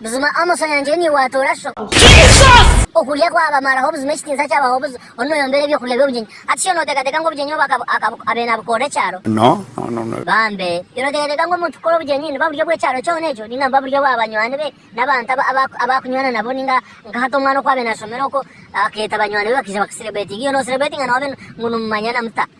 Buzima Amos Onyangyire niiwe watoora sho. Jesus! Okurya kwabamaraho buzima ekitiinsa kyabaho buza onu noyombera ebyokurya by'obugyenyi hati sho noteekateeka ngu obugyenyi obu aka aka abe nabukorera ekyaro? No no no no. Bambe, iwe noteekateeka ngu omuntu kukora obugyenyi nibuba buryo bw'ekyaro kyona ekyo ninga nibuba buryo bwa banywani be n'abantu aba aba abu akunywana nabo ninga nka hati omwana oku abe nashomera okwo akeeta banywani be bakaija bakuserebretinga iwe noserebretinga nawe obe ngu nimumanyana muta?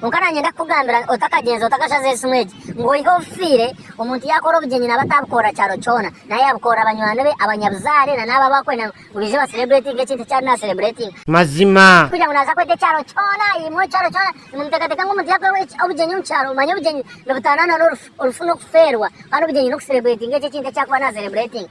Kwonka nanyenda kukugambira otakagyenza otakashaza esimu egi ngu oyihe obufiire, omuntu yakora obugyenyi naba atabukorera kyaro kyona nari yabukorera banywani be, abanyabuzaare nana abo abu akwenda ngu baije ba celebretinge ekintu eki ari na celebretinga. Mazima. Tikugira ngu naza kweta ekyaro kyona, imwe ekyaro kyona nimuteekateeka ngu omuntu yakora obugyenyi omu kyaro, manya obugyenyi nibutaanana n'orufu, orufu n'okufeerwa, kandi obugyenyi n'oku celebretinga ekyo ekintu eki akuba na celebretinga.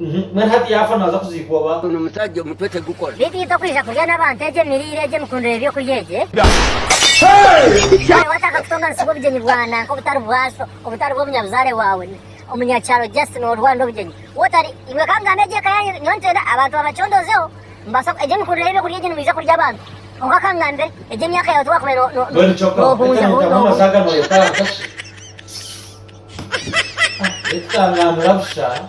Mbwenu hati yaafa naaza kuziikwa oba? Ogu nomusaja omutwe tegukora. Beitu itwe kwija kurya nabantu egyo emiriire egyo emikundire yebyokurya egyo Nawe watandika kutonganisibwa obugyenyi bwa nanka obutari bwaso obutari bwomunyabuzare wawe omunyakyaro just norwanda obugyenyi wotari iwe kangamba egyo eka yanyu nyowe nitwenda abantu babacondozeho nibasa egyo emikundire yebyokurya egyo nimwija kurya abantu kwonka kangambire egyo emyaka yawe tiwakubaire nohunza huu.